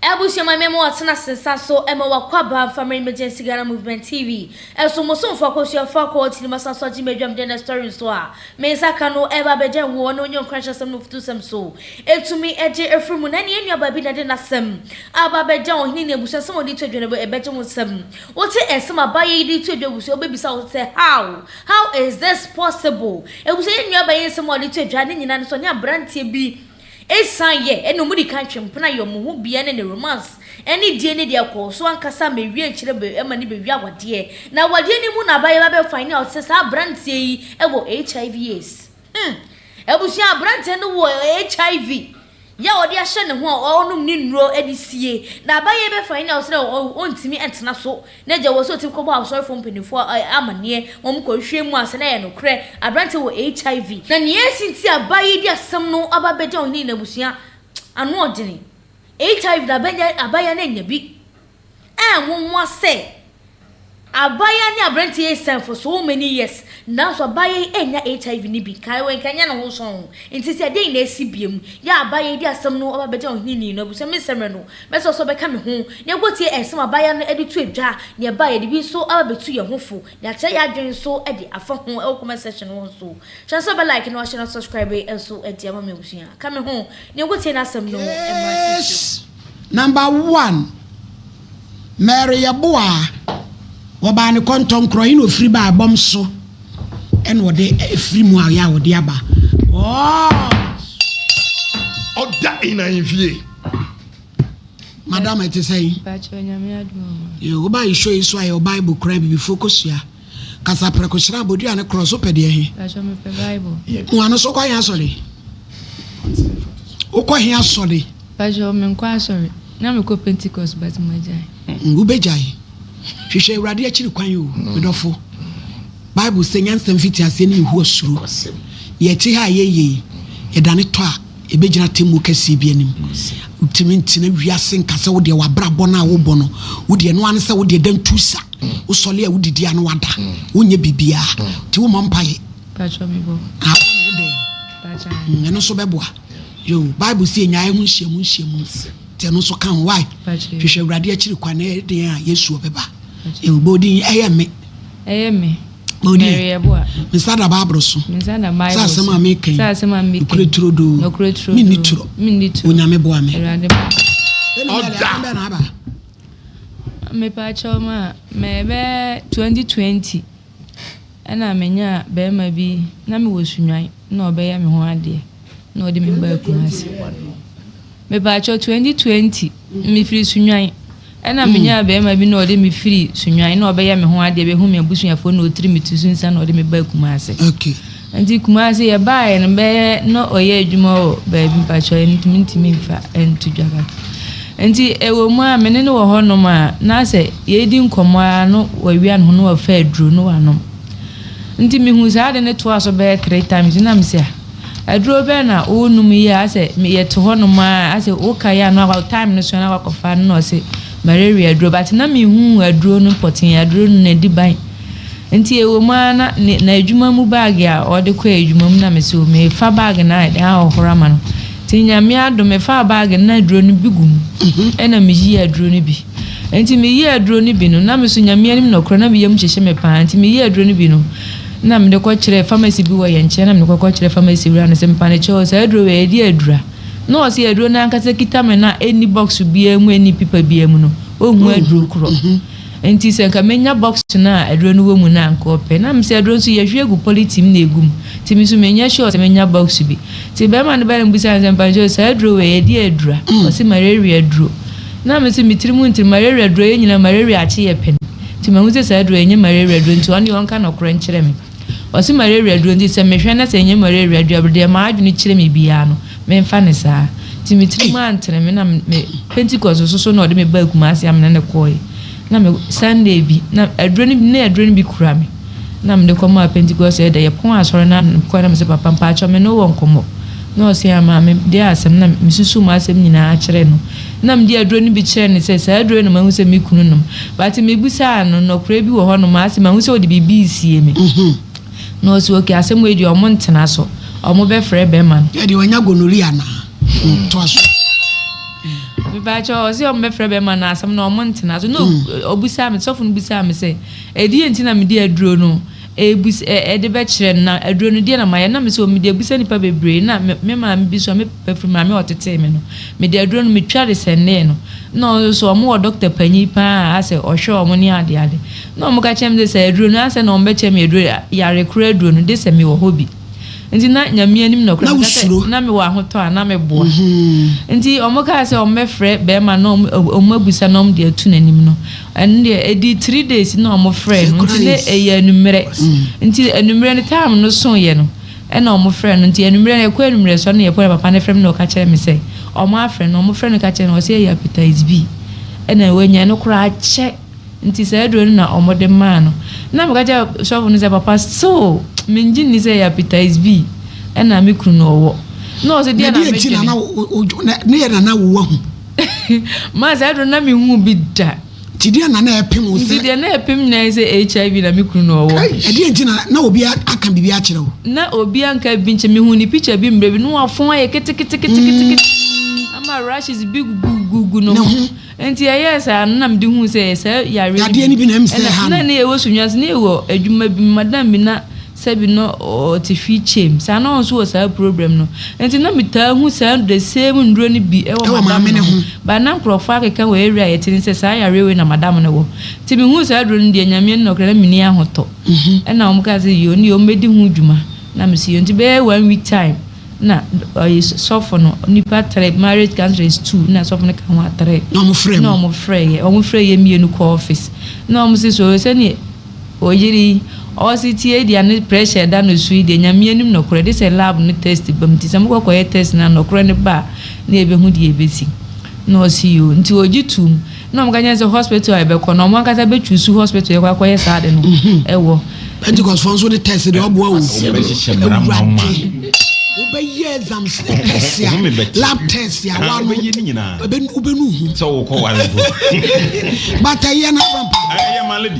Abusua ma mema wɔtena ase nsa so ma wɔakwaba mfa mmerɛ emergency Ghana movement TV so mo somfo akosua fa kɔ tiri masa so agye m'adwam dɛ nɛ story nso a me nsa ka no ɛba abɛgya nwoɔ ne onye nkuranhyɛ asɛm ne ofutusɛm so ɛtumi gye ɛfiri mu na nea nuabaa bi na ɛde nasɛm aba abɛgya ɔhene ne abusua nsɛm a ɔde to adwa no ɛbɛgye wo nsɛm wote nsɛm a baayɛ yi de to adwa abusua wobɛbisa wo sɛ how how is this possible abusua yɛ nuabaa yi nsɛm a ɔde to adwa ne nyinaa no so ɔne abranteɛ bi Esiane yɛ ɛna ɔmo di kan twe mpena yɛ ɔmo ho bia ne ne romance ɛne die ne deɛ kɔɔ so ankasa ma ɛwie akyire be ɛma ne bɛwie awadeɛ na awadeɛ no mu na abayɛ ba bɛ find out sɛ saa abranteɛ yi ɛwɔ HIV aids hmm abusua abranteɛ no wɔ HIV yɛ ɔde ahyɛ ne ho a ɔnom ne nnuro ɛde sie na abayɛ yi bɛ find out sɛ ɔntumi ɛntena so na gya wɔ so a otumi kɔbɔ asɔrefo mpanyimfo amanneɛ ma wɔkɔhwie mu ansa na ɛyɛ nokorɛ aberante wɔ HIV. Na nea esi nti a baa yi de asɛm no aba abegya ɔhene ne n'abusua anoɔdene, HIV na abanya abaayewa no annya bi. Ɛyɛ nwonwa sɛ abaayewa ne aberante yi asian for so many years, nanso abaayewa yi annya HIV no bi. Kae, wankanya ne ho sɔnn. Enti sɛ dɛn na asi bio? Yɛ a abaayewa yi de asɛm no aba abegya ɔhene ne n'abusua, mensɛ mmrɛ no. Mɛsrɛ wo sɛ wobɛka me ho, na yɛakotie nsɛm a abaayewa no de too dwa, nea ɛbaa a yɛde bi nso aba betu yɛn ho fo, na yɛakyerɛ yɛn adwene nso de afa ho wɔ comment section hɔ nso. Hyɛ no sɛ wobɛ like na wahyɛ no subscribe nso de ama me abusua. Ka me ho, na yɛnkotie n'asɛm no mmra Case nsɛm. Number one, Mary Yeboah, wɔbaa no Kɔntɔnkorɔ, ɛna ɔfiri baa ɛbɔm so, ɛna ɔde ɛfiri mu a ɔyɛ a ɔde aba. Ɔɔ! Ɔda in ahemfie. Madam ɛte sɛ yi. Bàtchɛ onyame adum ɔmo. Yo, wo ba yi show yi so ayɛ Bible kura bibi fo kɔ sua. Kasa prɛko hyira abodua ne cross wopɛ deɛ he. Bàtchɛ me pɛ Bible. Mo ano so kɔ he asɔre? Wo kɔ he asɔre? Bàtchɛ me nkɔ asɔre. Na me kɔ Pentecost but mo agyae. Mm, wo bɛ gyae. Hwehwɛ awurade akyiri kwan yo, me dɔfo. Bible sɛ nyansa mfiti aseɛ ne Yehowa suro. Yɛ te ha a yɛ yɛ yi, yɛ dane tɔ a. Ebegyina atemmuo kɛseɛ bi anim. Wontumi ntena wiase nka sɛ wodeɛ w'abrabɔ no a wobɔ no, wodeɛ ɛno ara ne sɛ wodeɛ dan tu sa, wosɔle a wodidi a na wada, wonyɛ biribiara, nti wommɔ mpaeɛ a wobɔ no wodɛn? Mm, ɛno nso bɛboa. Yo, Bible sɛ yɛnya ɛho nhyiamu nhyiamu, nti ɛno nso ka ho. Why? Hwehwɛ Awurade akyiri kwan na ɛyɛ den a Yesu ɔbɛba. Yo, bɔ odin, ɛyɛ me. Ɛyɛ me. mensa da baaboro so sɛ asɛm a meka yi nokorɛ turodoo menni torɔ onyame boa me ɔda mepaakyɛw ma mɛbɛ 2020 ɛna menya bɛrima bi na mewɔ sunwan na ɔbɛyɛ me ho adeɛ na ɔde me baa kumase Mepakyɛw twenty twenty mefiri Sunyani ɛna menyaa bɛɛma bi na ɔde me firi Sunyani na ɔbɛyɛ me ho adeɛ bɛhu me abusuafoɔ na ɔtiri me tusu nsa na ɔde me baa Kumase nti Kumase yɛbaeɛ no bɛyɛ na ɔyɛ adwuma wɔ baabi mpakyɛw ɛnti mentumi mfa ɛnto dwa ba nti ɛwɔ mu a mene no wɔ hɔ nom a na sɛ yɛdi nkɔmmɔ a no wawia ne ho na wafa aduro na wanom nti mehu saa ade no toa so bɛyɛ three times na mesɛ a Aduro bɛn na wo nom yi a asɛ yɛ te hɔ nom a asɛ wo ka yɛ ano akɔ time no so na wakɔ fa no na ɔse malaria aduro but na me hu aduro no pɔtee aduro no na di ban nti ɛwɔ mu a na ne na adwuma mu bag a ɔde kɔ adwuma mu na me se o me fa bag na ɛde ahohoro ama no ti nyame adom me fa bag na aduro no bi gu mu ɛna me yi aduro no bi. Enti meyɛɛ aduro no bi no, na me nso Nyame anim nɔkorɛ na me yam hyehye me paa nti meyɛɛ aduro no bi no na mede kɔ kyerɛɛ pharmacy bi wɔ yɛn nkyɛn na mede kɔkɔ kyerɛɛ pharmacy wura no sɛ mpanekyɛw saa aduro wei ɛdeɛ adura? Na ɔse aduro no ankasa kita me no a ɛnni box biara mu ɛnni pipa biara mu no ɔnhu aduro korɔ nti sɛ nka menya box no a aduro no wɔ mu no a nka ɔpɛ na me sɛ aduro nso yɛhwie agu polythene na ɛgu mu nti me nso menyɛ sure sɛ menya box bi nti bɛrima no baeɛ no bisaa no sɛ mpanekyɛw saa aduro wei ɛdeɛ adura? Ɔse malaria aduro Na me so metsir mu ntsi malaria duro yɛ nyina malaria akye yɛ pɛ no ntsi mahu dze saa duro yi nnyɛ malaria duro ntsi ɔno yɛ ɔnka nɔkorɛ nkyerɛ me ɔse malaria duro ntsi sɛ mehwɛ na sɛ nnyɛ malaria dua bdeɛ m'adwene kyerɛ me biaa no menfa no saa ntsi me tsir mu anntsen me na me Pentecost soso na ɔde me baa Kumasi amena ne kɔɔɛ Na me Sunday bi, na aduro no bi, na aduro no bi kura me. Na mede kɔmaa Pentecost ɛda, yɛpɔn asɔre no ano, mekɔe na mese, Papa, mpakyɛw me ne wo wɔ nkɔmmɔ. Na ɔse, Aa, maame, deɛ asɛm? Na mesusuu m'asɛm nyinaa kyerɛɛ no. Na mede aduro no bi kyerɛɛ no sɛ, Saa aduro yi na mahu sɛ me kunu nom. But mebisaa no, Nɔkorɛ bi wɔ hɔnom a ase mahu sɛ wode biribi resie me? Na ɔse, Okay, asɛm wei deɛ wɔn ntena so, wɔbɛfrɛ bɛrima no. Yɛ deɛ wanya gonorrhea anaa? Toa so. Mepakyɛw ɔse ɔmo bɛfrɛ bɛrima no asɛm na ɔmo ntena so na ɔbisaa me sɔfo no bisaa me sɛ ɛdeɛn nti na mede aduro no ɛbus ɛde bɛkyerɛ no na aduro no deɛ na mayɛ na mese o mede abusa nipa bebree na me maame bi so a me papa firi maame a ɔtetee me no mede aduro no metwa de sɛndee no na ɔno nso ɔmo wɔ dɔkta panyin paa a asɛ ɔhwɛ ɔmo ne adeade na ɔmo ka kyerɛ me sɛ sɛ aduro no asɛ na ɔmo bɛkyɛ me aduro yare koro aduro no de sɛ mewɔ hɔ bi. Nti na Nyame anim nokorɛ meka sɛ na mewɔ ahotɔ a na meboa. Nti ɔmo kaa sɛ ɔmo bɛfrɛ bɛɛma na ɔmo abusa na ɔmo de atu n'anim no ɛno deɛ ɛdii three days na ɔmo frɛɛ no nti na ɛyɛ anummerɛ nti anummerɛ no time no soeɛ no ɛna ɔmo frɛɛ no nti anummerɛ no ɛkɔ anummerɛ so ɛna yɛkɔ na papa no frɛ me na ɔka kyerɛ me sɛ ɔmo afrɛ no ɔmo frɛ no ka kyerɛ no ɔse ɛyɛ hepatitis B ɛna wanya no koraa kyɛ. Nti saa aduro no na ɔmo de maa no. Nna meka kyerɛ sɔfo no sɛ papa still mengye nni sɛ hepatitis B ɛna me kunu no ɔwɔ. Nna ɔse deɛ na medwene. Ne yɛ na na wo wahu. Maa saa aduro no na me nhuu bi da. Nti deɛ na na ɛpem wo sɛ. Nti deɛ na ɛpem nyinaa yɛ sɛ HIV na me kunu no ɔwɔ. Ɛdeɛ nti na na obi aka biribi akyerɛ wo. Na obi anka biribi nkyerɛ me, mehuu ne picture bi mmerɛ bi na wafɔn ayɛ keteketekete ama rashes bi gugugu no ho. Enti ɛyɛɛ saa no na mede huu sɛ ɛyɛ saa yareɛ no Yadeɛ no bi na ɛm sɛ ɛha no. Na ne yɛwɔ Sunyasi ne yɛwɔ adwuma bi mu madam bi na sɛbi na ɔte fii kyɛm saa na ɔno nso wɔ saa problem no enti na metaa hu saa the same nnuro no bi ɛwɔ Ɛwɔ madam maame no no ho ho. but na nkorɔfoɔ akeka wɔ area a yɛte no sɛ saa yareɛ wei na madam no wɔ nti mehuu saa aduro no deɛ Nyame anim nokorɛ na menni ahotɔ ɛna wɔn kaa sɛ yoo ne deɛ wɔn bɛdi ho dwuma na mese yoo nti bɛyɛ one week time na ɔyɛ sɔfo no nipa three marriage counselors two na sɔfo no ka ho a three na wɔn frɛ mu na wɔn frɛ yɛ wɔn frɛ yɛ mmienu kɔ office na wɔn si so sɛnea oyiri ɔsi tie deɛ ne pressure da no so yi deɛ nyame anim nɔkorɛ de sɛ lab no test bam ti sɛ mo kɔkɔ yɛ test na nɔkorɛ no ba a na ebehu deɛ ebesi na ɔsi yoo nti ogye tum. na wɔka kyerɛ sɛ hospital a yɛbɛkɔ no wɔn ankasa bɛ choose hospital yɛkɔ akɔyɛ saa de no ɛwɔ. pentikɔsfoɔ nso de test de ɔboa wo awurade wobɛyɛ exam sɛ test a lab test a wa no wobɛnu hu sɛ wokɔ ware mpo but ɛyɛ no abampa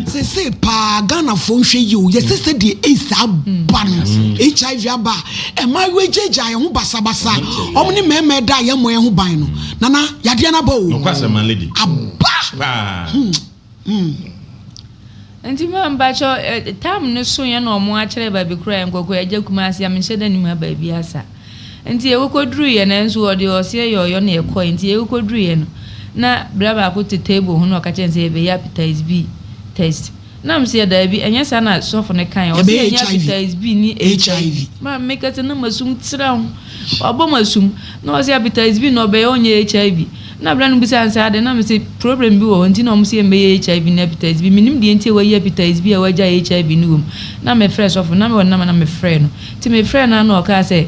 sɛ sɛ paa ghanafoɔ nhwɛ yi o yɛsɛ sɛ deɛ aids aba no hiv aba a ɛma wɛgyagya ɛho basabasa ɔm ne mmarima ɛda a yɛmmɔ ɛho ban no Nana yadeɛ no aba o. Nokwasɛm ma lady. Aba. Paa. Hmm. Hmm. Nti ma mpakyɛ tam no so yɛ na ɔmo akyerɛ baabi koro a yɛnkɔkɔ yɛagya kumase a menhyɛ da nim ha baabi asa nti yɛkɔkɔduru yɛ na nso ɔde ɔseɛ yɛ ɔyɔ na yɛkɔɛ nti yɛkɔkɔduru yɛ no na bra baako te table ho na ɔka kyerɛ sɛ yɛbɛyɛ appetize bi test Na me seɛ daabi ɛnyɛ saa na sɔfo no kaeɛ ɔse yɛnyɛ appetize B ne HIV ma me meka sɛ na masum tra ho wabɔ masum na ɔse appetize B na ɔbɛyɛ ɔnyɛ HIV na berɛ no bisa no saa deɛ na me se problem bi wɔ hɔ nti na ɔmo se yɛmbɛyɛ HIV ne appetize B menim deɛ nti a wayi appetize B a wagyae HIV no wɔ mu na mefrɛ sɔfo no na mewɔ ne number na mefrɛɛ no nti mefrɛɛ no a na ɔkaa sɛ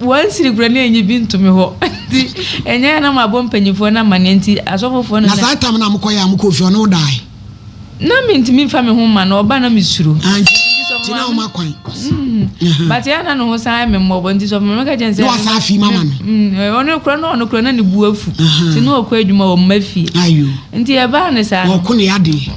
Wansiri kura na enyi bi nto me hɔ nti ɛnyɛ a na mabɔ mpanyinfoɔ no amaneɛ nti asɔfofoɔ no na. Na saa tam no a mokɔyɛ a mokɔɔ fie ɔne wo dae? Na mentumi mfa me ho mma no ɔba na me suro. Ah nti nti na ɔma kwan. Mm-hmm. But yɛ na ne ho san ayɛ me mmɔbɔ nti sɔfo maame ka kyɛn sɛ. Na wasa afi mama no. Mm, eh, ɔno kura na ɔno kura na ne bu afu. Nti na ɔkɔ adwuma wɔ mma fie. Ayo. Nti yɛ baa ne saa. Ɔkɔ ne adeɛ.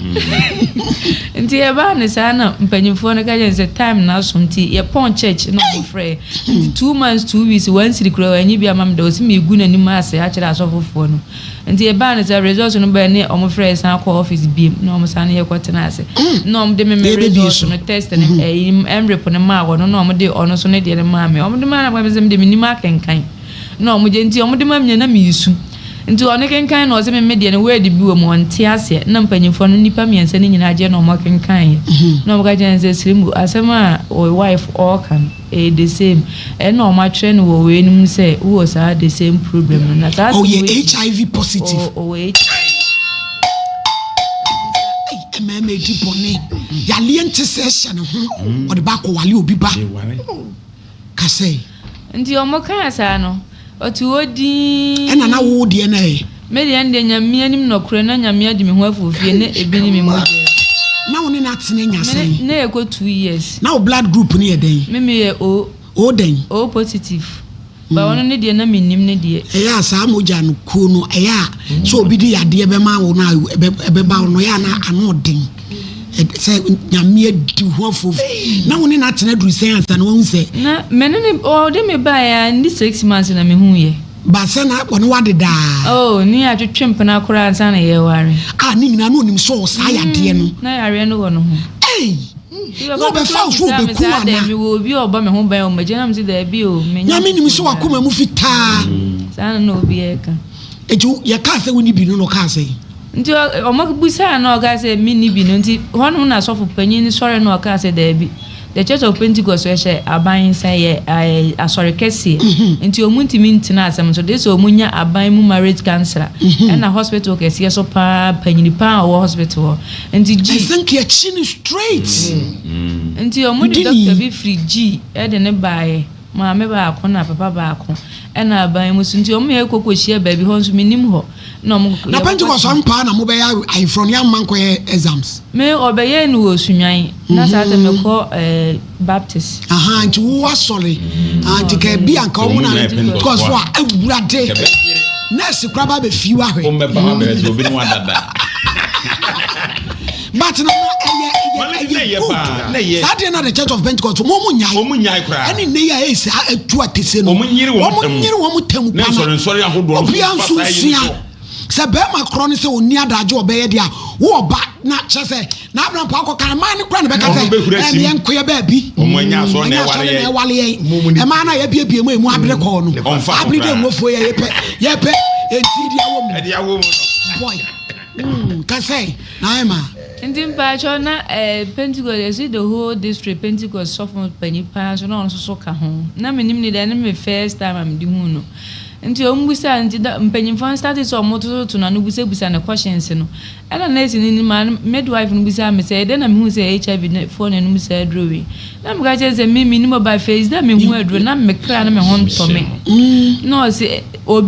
Nti yɛ baa ne saa na mpanyinfoɔ no ka kyɛn sɛ time na aso nti yɛ pɔn church na ɔmo frɛ. Ntsi two months two weeks wɔannsir koraa oennyi bi amma me dɛ ɔse megu n'enyim ase akyerɛ asɔfofoɔ no. Ntsi ebaa no sɛ results no bae ne wɔfrɛ yɛ san kɔɔ office bio mu na wɔsane yɛ kɔtsenaa ase na wɔde me me results no test no ɛyi mrep no maa wɔn na wɔde ɔno so ne deɛ no maa me. Wɔde maa no a mekã sɛ mede mennim akenkan. na ɔmo gye nti ɔmo de ma me a na me resu nti ɔno kenkan na ɔse me me deɛ no word bi wɔ mu ɔnte aseɛ na mpanyinfoɔ no nipa mmiɛnsa no nyinaa gye na ɔmo kenkaneɛ na ɔmo ka kyerɛ no sɛ Srimbo asɛm a wo wife ɔɔka no ɛyɛ the same ɛna ɔmo atwerɛ no wɔ wei no mu sɛ wowɔ saa the same problem no na saa ɔyɛ HIV positive ɔwɔ HIV mmarima edi bɔne yaleɛ nte sɛ ɛhyɛ ne ho ɔde ba akɔwale obi ba kasɛ. Nti ɔmo kaa saa no, ɔtoo hɔ dinn. Ɛna na wo deɛ no ɛ? Me deɛ no deɛ Nyame anim nɔkorɛ na Nyame agye me ho afi ofie na ebi ne me mogya mu. Na wo ne no atene nya sɛn? Me ne no ɛkɔ two years. Na wo blood group no yɛ dɛn? Me me yɛ O. O dɛn? O positive. But ɔno ne deɛ na me nim ne deɛ. Ɛyɛ a saa mogya no kuo no ɛyɛ a sɛ obi de yadeɛ bɛma wo no a ɛbɛba wo no ɛyɛ a na ano ɔden. sɛ nyame adi ho afo na wo ne no atena duru sɛn ansa na wahu sɛ na mene ne ɔde me baeɛ a ne six months na mehu yɛ ba sɛ na ɔne wade daa oh ne atwetwe mpena koraa ansa na yɛware a ne nyinaa na onim sɛ saa yadeɛ no na yareɛ no wɔ no ho ei na ɔbɛfa wo so wobɛku ana mewɔ obi a ɔbɔ me ho ban ɔmagya nam sɛ daabi o nyame nim sɛ wakoma mu fitaa saa na na obi ɛka Enti wo, yɛkaa sɛ wonni bi no na ɔkaa sɛn? Nti ɔ, wɔbisaa no na ɔkaa sɛ, Menni bi no. Nti hɔnom na asɔfo panyin no sɔree na ɔkaa sɛ, Daabi, The Church of Pentecost yɛ hyɛ aban nsa, yɛ ɛ, asɔre kɛseɛ, nti wɔntumi ntena asɛm no so, gye sɛ wɔnya aban mu marriage counsellor, ɛna hospital kɛseɛ so pa ara, panyini pa ara a ɔwɔ hospital hɔ. Nti G. Ɛsɛ nka yɛkye no straight. Nti wɔde doctor bi firi G. de no baeɛ. Maame baako na papa baako na aban mu so nti wɔn yɛ koko hyia baabi hɔ nso menim hɔ na wɔn koko. Na Pentecost wɔn paa na mo bɛyɛ ayeforo no yɛ ama nkɔyɛ exams. Me ɔbɛyɛ no wɔ sunwan na saa tɛ me kɔ ɛɛ eh, Baptist. Aha nti wo asɔre anti ka ebi anka wɔn na Pentecost fo a awurade nurse kura ba bɛ fi wa hwɛ. Wɔn bɛ ba bɛ sɛ obi ni wa dada. But na na ɛyɛ ɛyɛ ɛyɛ good koraa. Saa deɛ na the church of Pentecost wɔn wɔn nyae. Wɔn nyae koraa. Ɛne nne yi a ɛyɛ saa ɛtu atese no. Wɔn nyere wɔn tɛm. Wɔn nyere wɔn tɛm pa na. Ne nsɔre nsɔre ahodoɔ. Obia nso nsua. Sɛ bɛrima korɔ ne sɛ ɔni adagye ɔbɛyɛ deɛ a wo ɔba na kyɛ sɛ na abena mpa akɔ kan maa ne kora ne bɛka sɛ ɛneɛ nkoyɛ baabi ɔmo anya asɔ na ɛwale yɛn ɛmaa na yɛbiebie mu emu abere kɔɔ no abere dɛ nwofoɔ yɛ yɛpɛ yɛpɛ ɛnti deɛ wɔ mu boy Mm, kasai na ema. Nti mpacho na eh, Pentecost is it the whole district Pentecost sɔfo panyin paa nso na ɔno nso so ka ho. Na menim ne dɛ ne me first time a mede hu no. Nti ɔmo bisa nti da mpanyinfoɔ no start sɛ ɔmo tototo no ano busabusa ne questions no. Ɛna nurse no ne midwife no bisaa me sɛ ɛdɛ na mehu sɛ HIV foɔ na ɛnum saa aduro wei. Na meka kyerɛ sɛ me menim ɔba fɛ sɛ mehu aduro na me kra no me ho ntɔ me mm. na ɔse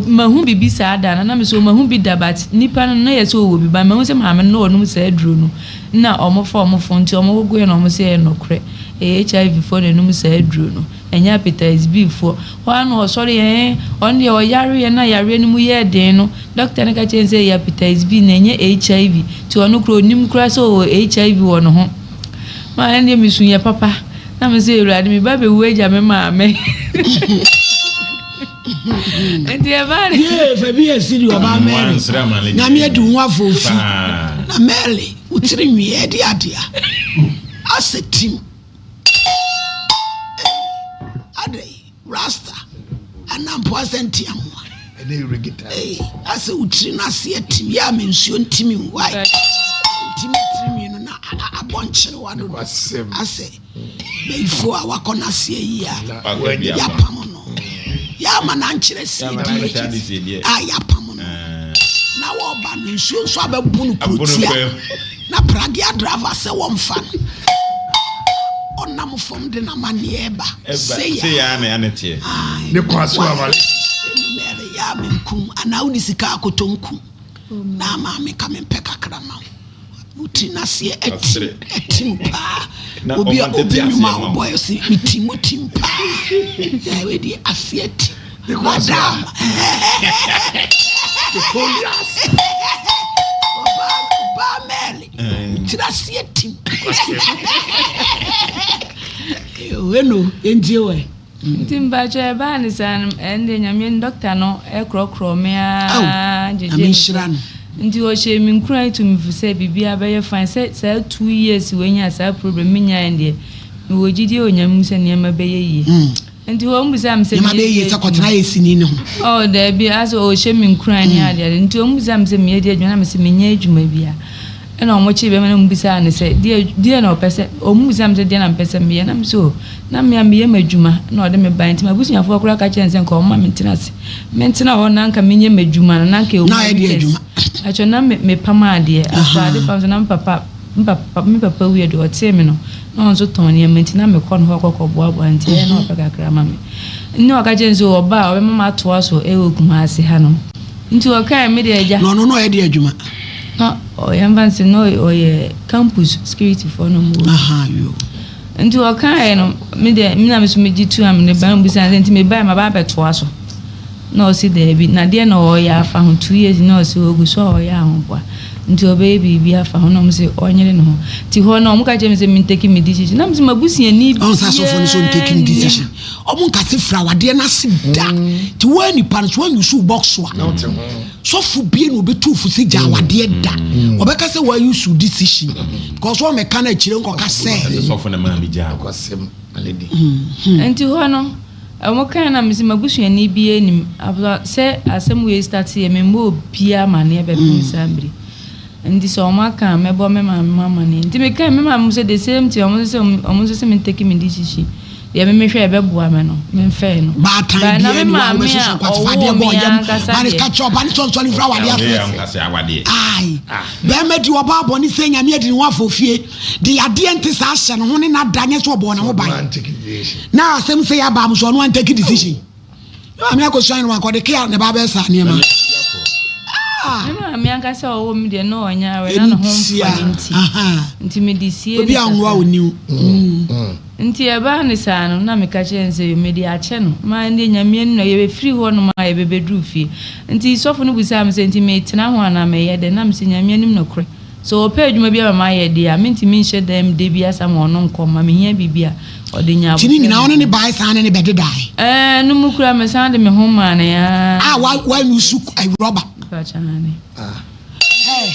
mahu biribi saa da no na me sɛ mahu bi da but nipa no na yɛ sɛ ɔwɔ bi ba mahu sɛ maame no na ɔnom saa aduro no na ɔmofa ɔmofo nti ɔmogogoɛ na ɔmo sɛ yɛ nɔkorɛ ɛyɛ hiv foɔ na ɛnom saa aduro no ɛnyɛ apetites b foɔ hɔ a na ɔsɔre yɛn ɔno deɛ ɔyareɛ na yareɛ no mu yɛ den no dɔkta no ka kyɛn sɛ ɛyɛ apetites b na ɛnyɛ hiv nti ɔno kora ɔnim kora sɛ ɔwɔ hiv wɔ ne ho Maa ɛndeɛ mesu yɛ papa na me sɛ awurade me ba bɛwu agya me maame nti ɛbaa de. yee fabi yɛ siri ɔbaa mɛri nyame adi ho afɔfi na mɛri wotiri nwi ɛdi adeɛ asɛ tim. Rasta anaa mpoase ntea mu a. Ei, asɛ wo tiri no ase atim yɛ a me nsuo ntimi nwae. Ntimi tirinwi no na abɔ nkyerewa dodo. Asɛ bayifoɔ a wakɔ n'aseɛ yi a yɛapam no. Yɛama no ankyerɛ siedie a yɛapam no. Na wɔba no nsuo nso abɛbo no kurotia. Na pragea driver sɛ wɔmfa no na ɔnam fam de n'amanneɛ reba. Sei ara. Sei ara na ɛne teɛ. Ae. Ne kwan so ama no. Enumere yɛ a menkum anaa wode sika akɔtɔ nkum na ama me ka mempɛ kakra ma wo. Wo tiri no aseɛ atim, atim paa. Obi a obi nnwuma a wobɔeɛ se metim, wotim paa. Wei deɛ aseɛ atim. Madam. Victorious. Obaa mɛli. Kyerɛ aseɛ tim. Wenu ɛngye wɛ. Nti mpakyɛ ɛbaa ne saa no ɛnde nyame dɔkta no ɛkorɔkorɔ me aa gyegye me so nti ɔhyɛ me nkura to me fu sɛ biribi abɛyɛ fine sɛ saa two years wɔanya saa problem menyaeɛ deɛ mewɔ gyidie wɔ nyame mu sɛ nneɛma bɛyɛ yie hmm. Nti wɔn bisa me sɛ meyɛ adwuma. Nneɛma bɛyɛ yie sɛ kɔtena ayɛ sini no ho. Oh daabi asɛ ɔhyɛ me nkuran ne ade ade nti wɔn bisa me sɛ meyɛ deɛ adwuma na me sɛ menyɛ adwuma bia ɛna wɔn kye bɛma na wɔn bisa no sɛ deɛ deɛ na ɔpɛ sɛ wɔn bisa me sɛ deɛ na mpɛ sɛ meyɛ na me sɛ o na mea meyɛ m'adwuma na ɔde me ban nti m'abusuafoɔ koraa ka kyɛn sɛ nka wɔn ma me ntena ase me ntena hɔ na nka menyɛ m'adwuma no na nka ɛwɔ mu ayɛ deɛ adwuma ɛkyɛ na me pam adeɛ aso ade pam so na me papa me papa me papa wie do ɔtee me no. na ɔno nso tɔn nneɛma nti na mekɔ ne hɔ kɔkɔboaboa nti ɛyɛ na ɔpɛ kakra ma me nne ɔka kyerɛ nso ɔba a ɔbɛma matoa so ɛwɔ Kumase ha no nti ɔkae me deɛ agya na ɔno na ɔyɛ de adwuma na ɔyɛ mfa nsɛ na ɔyɛ campus security foɔ no mu nti ɔkae no me deɛ me na me so megye tu a me ne ba mu bisa nti mebae ma ba abɛtoa so Na ɔse daabi, na deɛ na ɔɔyɛ afa ho, two years na ɔse ɔɔgu so a ɔɔyɛ ahoboa, nti ɔbɛyɛ biribi afa ho, na ɔmo se ɔɔnyere ne ho, nti hɔ no ɔmo ka kyerɛ me sɛ menteki me decision, na mese m'abusuani biaa nni. Ɔhu sɛ asɔfoɔ no sɛ ɔnteki ne decision, ɔmo nka se fira awadeɛ no ase da, nti woaa nipa no so woan use wo box a, sɔfo bie na ɔbɛtu wo fo sɛ gya awadeɛ da, ɔbɛka sɛ woaa use wo decision, because ɔɔmɛka no akyire nkɔka sɛ. Nti hɔ no. Ɔmo kae na mese m'abusuani biaa nnim after sɛ asɛm wei start yɛ memmɔ obiaa amaneɛ bɛpem saa mmere nti sɛ ɔmo aka a mɛbɔ me maame mo amaneɛ nti me kae me maame mo sɛ the same thing ɔmo nso sɛ ɔmo nso sɛ me take me decision deɛ me mehwɛ ɛbɛboa me no me mfɛɛ no bae na me maame a ɔwoo me ankasa deɛ bɛɛma di ɔba abɔ ne sɛ nyame adi ne ho afɔ fie de yadeɛ nte saa hyɛ ne ho ne nada nyɛ sɛ ɔbɔ ne ho ban na asɛm sɛ yaba mo so ɔno an take decision na maame akɔsua no wakɔde kea ne ba bɛyɛ saa nneɛma maame ankasa a ɔwɔ mu deɛ na ɔnyɛ awɛ na ne ho mfa ne nti nti mede sie obi anwoa wo niw mm. mm. nti ɛbaa ne saa no na meka kyerɛ ne sɛ yo mede akyɛ no ma ɛndeɛ nyameɛ no na yɛbɛfiri hɔ nom a yɛbɛbɛduru fie nti sɔfo no busaa me sɛ nti metena ho anaa mɛyɛ dɛ na mesɛ nyameɛ nim nokorɛ Sɛ ɔpɛ adwuma bi ama me ayɛ de a, mentumi nhyɛ dan mu da biasa ma ɔno nkɔ mma. Mehia biribi a, ɔde nya aboterɛ. Nti ne nyinaa ɔne ne bae san ne ne bɛdedae? Ɛɛ, ɛno mu koraa mesan de me ho maa no ara. A wa wanusu awurɔba? Mpakyɛ aane. Hɛɛ,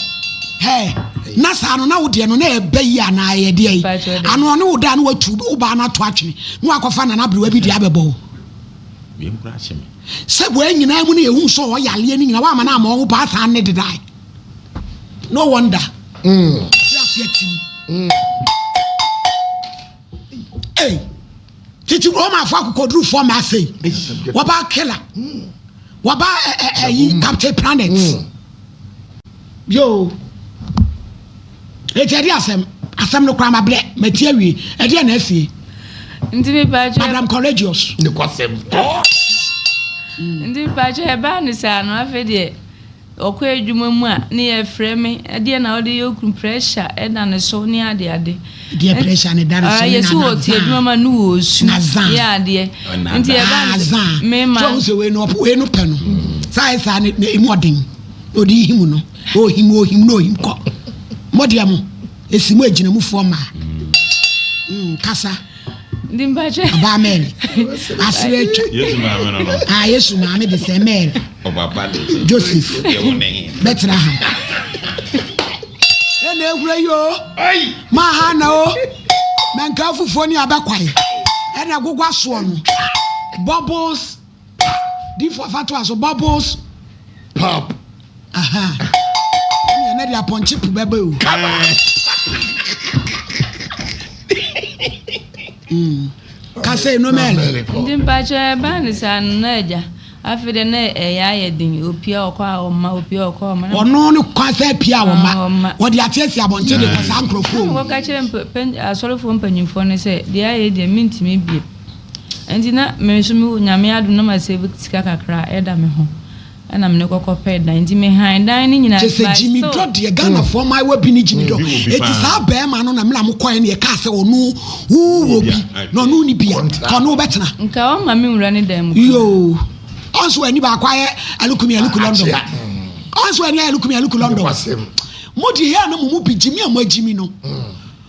hɛɛ, na saa no na wo deɛ no na ɛba yi anaa ɛyɛ deɛ yi? Mpakyɛ ɔde. Ano ɔne wo da na watu wo baa no ato atwene na wakɔfa nana aberewa bi de abɛbɔ wo. Wei nkura akye me. Sɛ wei nyinaa mu na yɛhu sɛ ɔyaleɛ no nyinaa, woamma no amma wo ho paa san ne dedae? no wonder ɔte ase atim ei titi romafo akokodurufoɔ ma afei wɔba kela wɔba ɛyi captain planet yoo eti ɛde asɛm asɛm no koraa ma brɛ ma ti awie ɛdeɛ na asie nti mepaakyɛ madam courageous ne kwasɛm nti mepaakyɛ ɛbaa ne saa no afei deɛ Ɔkɔ adwuma mu a ne yɛ frɛ me ɛdeɛ na ɔde yɛ okunu pressure da ne so ne ade ade. Deɛ pressure ne da ne so ne na na zaa ma ne wɔ osu na zaa yɛ adeɛ nti yɛ ba ne zaa me ma. Sɛ ɔhu sɛ wei no ɔpɛ wei no pɛ no saa yɛ saa ne na emu ɔden na ɔde yi mu no ɔhim ɔhim na ɔhim kɔ mo deɛ mo esi mo agyinamufoɔ mmaa kasa. Ndi mpakyɛ. Ɔbaa Mary. Asere atwa. Yesu maame no no. Ah, Yesu maame de sɛ Mary. Ɔbaba de. Joseph. Yɛ wo ne he. Bɛtena ha. Ɛna ehura yi o. Ayi. Maa ha na o. Mɛnka afufuo ne abɛkwae. Ɛna gogwa soɔ no. Bubbles Pa! Diifo afa toa so, bubbles pop. Aha. Ɛnna ɛnna de apɔnkye po bɛbɛ o. Mm. Kasa enu mɛlɛ. Nti mpakyɛ ɛbaa ne saa no na agya afei dɛ na ɛyɛ ayɛ den opia ɔkɔ a ɔma opia ɔkɔ a ɔma. ɔno no kwan sɛ pia ɔma wɔde ateasia abɔnten de kɔ saa nkurɔfoɔ mu. wɔka kyerɛ asɔrefoɔ mpanyinfoɔ no sɛ deɛ ayɛ deɛ mentumi bie Enti na me nso me Nyame adom na masave sika kakra ɛda me ho ɛna mene kɔ kɔ pɛ dan enti me han dan no nyinaa by so. Gyimi dɔ deɛ Ghana foɔ mmaayewa bi ne gyimi dɔ eti saa bɛɛma no na mena mo kɔɛ na yɛkaa sɛ ɔno wo wɔ bi na ɔno ɔni bi a ka ɔno wobɛtena. Nka ɔmma me nwura ne dan mu koraa. Yoo ɔnso wani baako ayɛ alukumi aluku London ɔnso wani ayɛ alukumi aluku London mo deɛ yɛ na mo mu bi gyimi a mo agyimi no.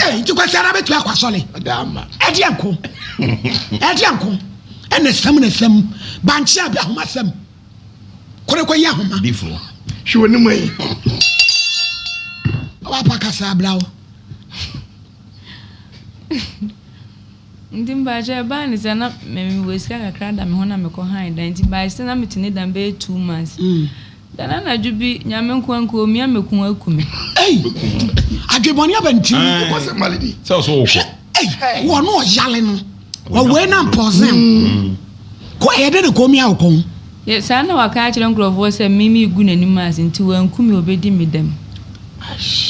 Ẹ nti kwasi ara bɛtumi akɔ asɔre ɛdeɛ nko ɛdeɛ nko ɛna sɛm na sɛm bankye abi ahoma sɛm kore kɔ yi ahoma. Difo hwɛ wɔ ne mu yi. Wapa kasa abira wo. nti mpakyɛ ɛbaa ne sɛ na mewɔ sika kakra da me ho na mekɔ han da nti by sɛ na mete ne dan bɛyɛ two months mm. Da no anadwo bi, Nyame nkoa nkoa omia me ko aku me. Ei! Adwebɔne aba ne tirim. Ɛɛ, Wokɔ sɛ mali bi. sɛ ɔso wokɔ. Hwɛ, ei, wɔn a ɔyale no, wɔwee na mpɔɔsen wo. Ko a ɛyɛ dɛ na ko omia wo ko. Yɛ, saa na waka akyerɛ nkurɔfoɔ sɛ me megu n'anim ase nti wanku me obedi me dɛm.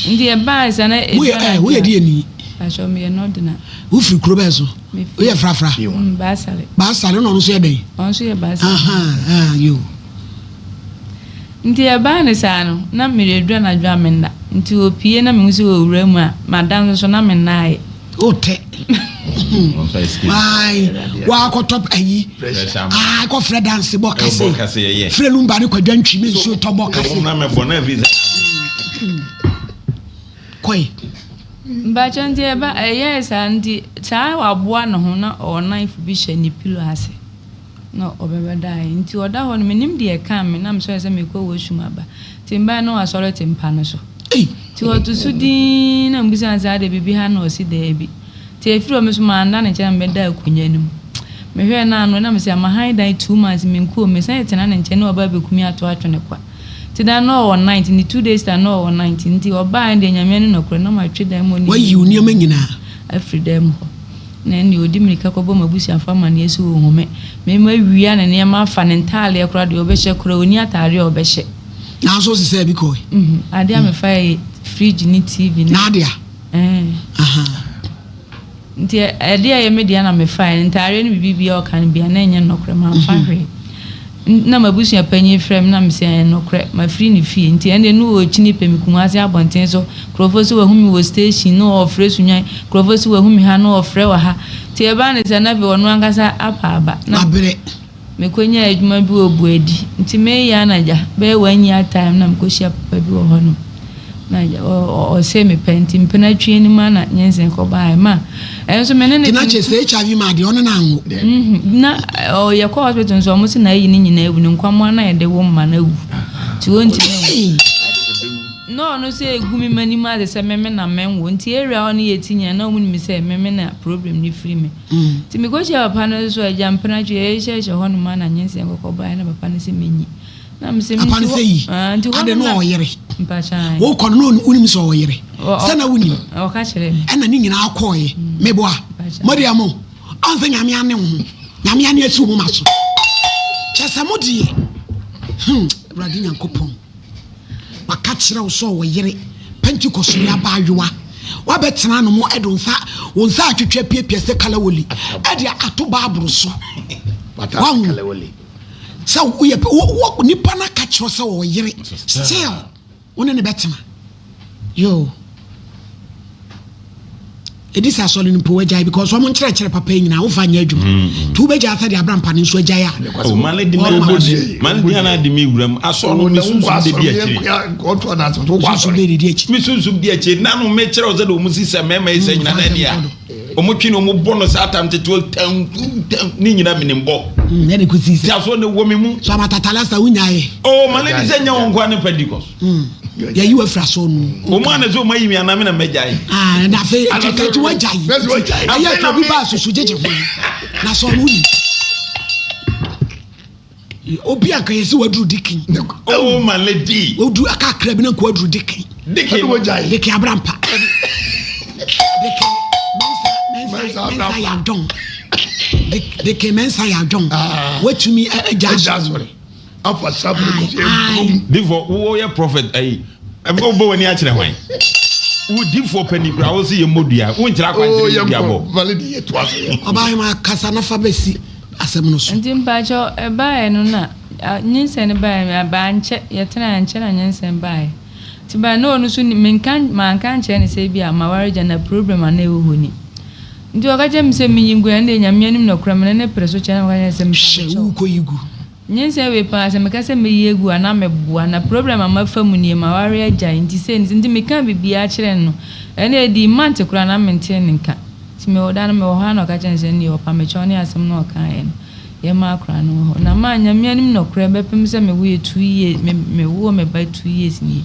Nti ɛbaae saa na Mo yɛ, ɛɛ, wo yɛ deɛ ni? Pakyɛ, me yɛ Nordina. Wo firi kuro bɛn so? Me firi. Wo yɛ Frafra? Baasare. Baasare, ɛna ɔno nso yɛ dɛn? Ɔno nso yɛ Baasare. Ahaa, ɛɛ, yoo. Nti ɛbaa no saa no, na meredu anadwo a menna. Nti ɔpue na mehu sɛ ɔrewura mu a, mada nso so na mennaeɛ. Wote. Ae, woakɔtɔ ayi. Ae, kɔfrɛ danse bɔ kase. Frɛ lumba ne kwadwa ntwi me nsuo tɔ bɔ kase. Kɔe. Mpakyɛ nti ɛba ɛyɛɛ saa nti saa waboa ne ho na ɔnan fo bi hyɛ ne pillow ase. Na ɔbɛba daeɛ. Nti ɔda hɔ no, mennim deɛ ɛkaa me, na mesɔree sɛ merekɔ wash room aba. Nti mebaeɛ no na wasɔre te mpa no so. Nti ɔto so dinn, na mebisaa no sɛ, Adeɛ, biribi ha? Na ɔse, Daabi. Nti ɛfiri hɔ no, me nso manda ne nkyɛn na mebɛdaa akonnwa no mu. Mehwɛɛ no a, na ɔnam sɛ ama hann dan two months me nkurom. Mesan tena ne nkyɛn na waba abɛku me ato atwe no kwa. Nti daa no na ɔwɔ night, ne two days time no na ɔwɔ night. Nti ɔbaeɛ no deɛ, Nyame anim nokorɛ, na matwe dan mu hɔ nneɛma nyinaa afiri dan mu hɔ. ne nea odi mmirika kɔbɔ m'abusuafo amanneɛ so wɔ nhome, mema awia ne nneɛma afa, ne ntadeɛ koraa, deɛ ɔbɛhyɛ koraa, ɔnni atadeɛ a ɔbɛhyɛ. Nanso ɔsesaa bi kɔe. Adeɛ a mefaeɛ yɛ fridge ne TV ne. N'adea. Nti adeɛ a ɛyɛ me dea na mefaeɛ, ntadeɛ ne biribiara a ɔka no biara, na ɛnyɛ nokorɛ, mamfa hwee. na m'abusua panyin frɛ me na mise ɛɛ nokorɛ, mafiri ne fie, nti ɛnde ne ɔɔkyini pɛ me Kumasi abɔnten so, nkurɔfoɔ se wahu me wɔ station na ɔɔfrɛ Sunyani, nkurɔfoɔ se wahu me ha na ɔɔfrɛ wɔ ha, nti ɛbaa ne saa na afei ɔno ankasa apa aba na mekɔnyaa adwuma bi wɔ Buadi, nti meeyɛ anadwa bɛyɛ one year time na mekɔhyia papa bi wɔ hɔnom. na ɔsɛ mepɛ nti mpena twi no ma na nyensen kɔbaeɛ ma ɛno nso me ne ne gyina sɛ hiv ma adeɛ ɔne no anwo mhm. na ɔyɛ kɔ hospital nso ɔmo se na ayi ne nyinaa awu ne nkwammoa na yɛde wo mma no awu nti ɔntumi na ɔno sɛ ɛgu me ma nim ase sɛ meme na menwo nti area ɔne yɛ ti nyina na ɔmo nim sɛ meme na problem no firi me mm. nti mekɔhyia papa no so agya mpena twi ɛyɛhyɛhyɛ hɔ no ma na nyensen kɔkɔbaeɛ na papa no sɛ menyi Papa no sɛ yi, ade na ɔyere. Wokɔ no na wonim sɛ ɔyere. Sɛ na wonim. Ɛna ne nyinaa kɔɔye. Mm. Meboa. Mɔdeɛ mo. Ɔn sɛ nyame ane wo ho. Nyame ane asi wo ma so. Kyɛ sɛ mo deɛ. Hmm. Awurade Nyankopɔn. Waka kyerɛ wo sɛ ɔyere. Pentecost ni aba ayowa. Wabɛtena no mo ɛde nsa wo nsa atwitwa piapia sɛ kalawoli. Ɛde ato baaboro so. Wahu. Sɛ woyɛ pɛ wo wo nipa na ka kyerɛ sɛ ɔyere still wo ne ne bɛtena yoo ɛdi sɛ asɔre no mpo wagyae because wɔn nkyerɛkyerɛ papa yi nyinaa wofa nyɛ adwuma mm, mm. nti wobɛgya asɛ de abra mpa no nso agyae a oh, mane de no ade me wuram asɔ no mesunsum de di akyiri mesunsum de di akyiri na no mekyerɛ wo sɛ de ɔmu si sɛ mɛma yi sɛ nyina na ɛdeɛ Wɔn twi na wɔn bɔ no saa tam tete tanku tanku ne nyina menim bɔ. Mm, ɛna kusi sɛ. Tiaso na ɛwɔ mi mu. So abatata last time wunya ye. Oh, ma ne di sɛ nya wɔn nkoa ne Pentecost. Mm, yɛ yi wafira so no. Wɔn a na sɛ wɔn ayi mi anam na mɛgya ye. Ah, ɛna afei ɛtɛtɛ ti wagya yi. Ɛyɛ ɛtɛ obi ba asusu gyegye ho. Na sɛ ɔno yi. Obi a kanyɛ sɛ waduru dikin. Oh my lady. Odu aka akra bi na nko aduru dikin. Dikin ɛna wagya yi. Dikin abrampa. dikin mɛnsa mɛnsa mɛnsa yɛ adɔn. Dikin mɛnsa yɛ adɔn. Ah. Watumi agya asɔre. Afa sabu kɔfie bom. Difo wo yɛ prophet ayi. Ɛfɔ wo bɔ wani akyerɛ hwan. Wo difo pɛni kura wo si yɛ mmodua. Wo nkyerɛ akwankyerɛ yɛ dua bɔ. Ɔbaa yɛ ma kasa nafa bɛsi. asɛm no so. Nti mpakyɛw ɛbaeɛ no na nyinsɛn no baeɛ no ɛbaeɛ ankyɛ yɛtenaeɛ ankyɛ na nyinsɛn baeɛ nti baeɛ na ɔno nso nim menka manka ankyerɛ no sɛ ebia maware gya na problem anaa ɛwɔ hɔ ni nti ɔka kyerɛ me sɛ menyi gu ɛndeɛ Nyame anim na ɔkura me na ne pere so kyɛ na meka kyerɛ no sɛ mpakyɛw. Hyɛ wo kɔ yi gu. Nyinsɛn wei paa sɛ meka sɛ mɛyi agu a na mɛboa na problem a mafa mu nie maware agyae nti sei ne sei nti mekaa biribiara kyerɛɛ no ɛnna ɛdii month koraa na mentee ne nka nti mewɔ da no mewɔ hɔ a na ɔka kyerɛɛ me sɛ nneɛ ɔpa mekyɛw ne asɛm no a ɔkaeɛ no yɛmma akora no wɔ hɔ na maa Nyame anim nɔkorɛ bɛpem sɛ mewoeɛ two years me mewoo me ba two years nie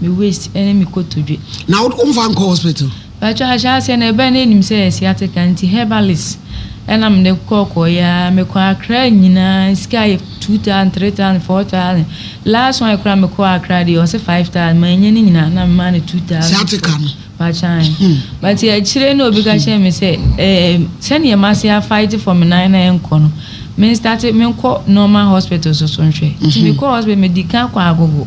me waist ne me kotodwe. Na wo womfa nkɔ hospital? Mpakyɛ ahyɛ aseɛ no ɛbɛn na ɛnim sɛ yɛ sciatica nti herbalist ɛna mede kɔ kɔ yɛ a mekɔ Accra nyinaa sika yɛ two thousand three thousand four thousand last one kora mekɔ Accra deɛ ɔse five thousand manyɛ ne nyinaa na memaa no two thousand sciatica no mpakyɛ ae hmm. but akyire na obi ka kyerɛ me sɛ eh, sɛdeɛ mase a fight for me nan na ɛnkɔ no me start menkɔ normal hospital so so nhwɛ nti mhm. mekɔ hospital medi ka kɔ agogo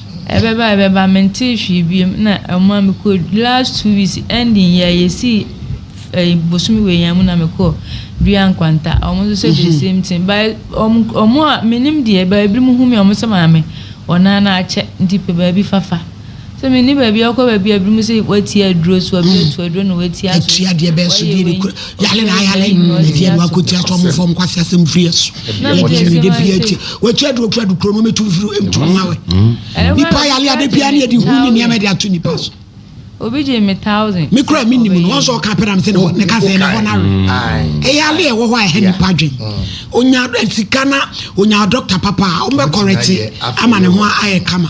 Ɛbɛba a ɛbɛba, mentee hwee bio mu na ɛma mekɔɔ adwuma. Last two weeks ending yɛ a yɛsii ɛyi eh, bosome wei yɛn mu na mekɔɔ dua nkwanta. Wɔn nso sɛ the mhm. same thing. Ba wɔn wɔn a menim deɛ ba ebinom hu mi wɔn sɛ maame wɔn nan na akyɛ nti pɛ baabi fafa. sɛ menni baabi akɔ baabi a binom sɛ wɔatia aduro so abi atu aduro na wɔatia so wayɛ wei Yale na ayale ɛdi ɛnu akoti aso ɔmo fɔm kwasi asɛm firi ɛso yɛ di ɛnu de pia akyi wɔakyi adu otu adu kuro no ɔmo tu firi ɛmu tu ɔmo awɛ nipa yale ade pia ne yɛ di hu ne nneɛma de ato nipa so. obi gye me thousand. me kura mi nim no wɔn sɛ ɔka pɛrɛ mi sɛ ne ka sɛ ne hɔ na awe ɛyɛ ale ɛwɔ hɔ a ɛhɛ nipa adwen onya sika na onya dɔkta papa a wɔn bɛ kɔrɛte ama ne ho ayɛ kama.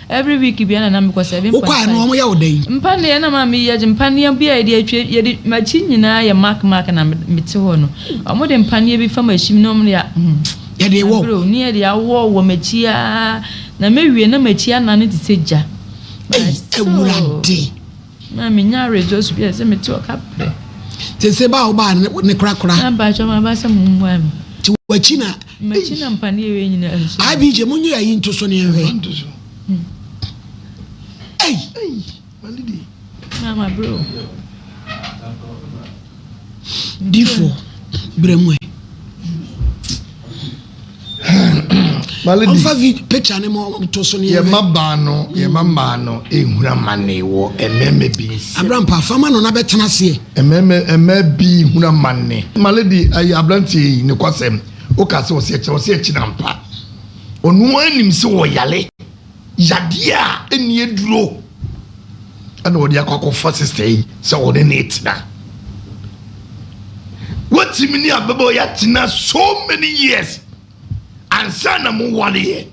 Every week biara na na mekɔ seven point five. Wokɔɛ no wɔn yɛ wo dɛn? Mpaneɛ na maa me yɛ gye mpaneɛ bi a yɛde atwa yɛde makyi nyinaa yɛ mark mark na me te hɔ no wɔn de mpaneɛ bi fa makyim na wɔn de a hmm. Yɛde wɔ. Aburo ne yɛde awɔ wɔ makyi aa na mɛ wie na makyi anane te sɛ gya. Ɛyi ɛwura de. Na minya aweretɔ su bi a ɛsɛ sɛ mete ɔka pɛ. Sese ba a wobaa ne ne korakora. Na mpakyɛ ma ba sɛ mo mmoa me. Ti wakyi na. Makyi na mpa ne yɛwɛ nyinaa nso. IBJ mo nyi ayi nto so ne yɛn hwɛ. Ei. Ei malidi. Na ma bro. Difo brɛ mu ɛ. Malidi. Ɔmfa vi picture ne ma ɔto so ne yɛn. Yɛma baa no yɛma mmaa no ehura mane wɔ mmarima bi nsa. Abrampa fama no na bɛtena aseɛ. Mmarima mmaa bi hura mane. Malidi ayi abranteɛ yi ne kwasɛm woka sɛ ɔsɛ ɛkyɛ ɔsɛ ɛkyɛ na mpa ɔno anim sɛ ɔyale Yadeɛ a ɛnni aduro na wɔde akɔ akɔfa sista yi sɛ wɔne ne retena. Wotumi ne ababaawa yi atena so many years ansa na mo wareɛ.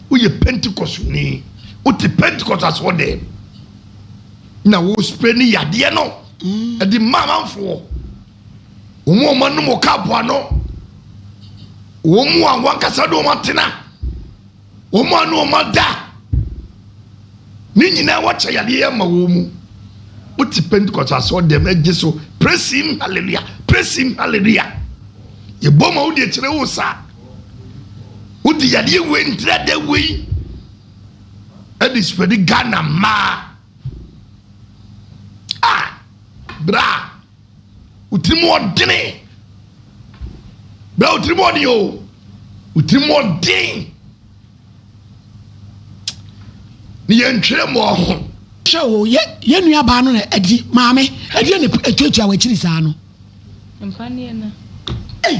Woyɛ pentikɔsoni, wote pentikɔs asoɔ dɛ na wo spray ne yadeɛ no ɛde mm. mma amanfoɔ. Wɔn a wɔanom wɔ kaapo ano, wɔn a wɔn ankasa de wɔn atena. Wɔn a na wɔn ada ne nyinaa wɔkyɛ yadeɛ yɛ ma wɔn mu. Wote Pentecost asɔr dɛm ɛgye so praise him hallelujah praise him hallelujah. Yɛbɔ ma wode akyerɛ wo sa. Wode yadeɛ wei ntrada wei ɛde spreadi Ghana mmaa. Ah, bra. Wotiri mu ɔdene. Bra wotiri mu ɔdene o. Wotiri mu ɔdene. Ne yɛn ntwerɛ mu ɔho. Hwɛ o, yɛ yɛn nua baa no na ɛdi maame ɛdeɛ na etuatua wɔ akyiri saa no. Mpaneɛ na. Ei.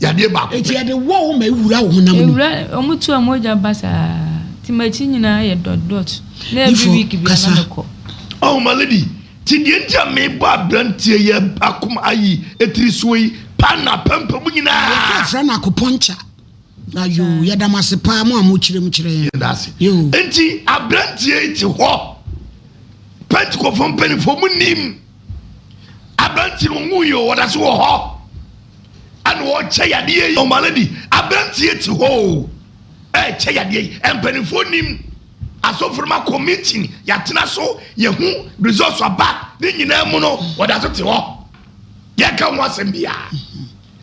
yadeɛ baako pɛ. Enti ɛde wɔ wo ma ɛwura wo honam mu. Ɛwura, wɔn tu a mogya ba saa, nti m'akyi nyinaa yɛ dot dot, na every week biara na mekɔ. Oh my lady, nti deɛ nti a mebɔ abranteɛ yi akoma ayi tiri soɔ yi, paano apampam mu nyinaa. Yɛka frɛ no acupuncture. Ayoo, yɛda mo ase paa mo a mokyerɛ mu kyerɛ yɛn. Yɛda ase. Yoo. Nti abranteɛ yi te hɔ, Pentecofoɔ mpanimfoɔ monim abranteɛ no, wɔnwuiɛ o, ɔda so wɔ hɔ. ɛna ɔrekyɛ yadeɛ yi ɔmo aladi aberanteɛ ti hɔ o ɛrekyɛ yadeɛ yi mpanimfoɔ nim asɔfo nom akɔ meeting yɛatena so yɛhu results aba ne nyinaa mu no wɔda so te hɔ yɛka ho asɛm biara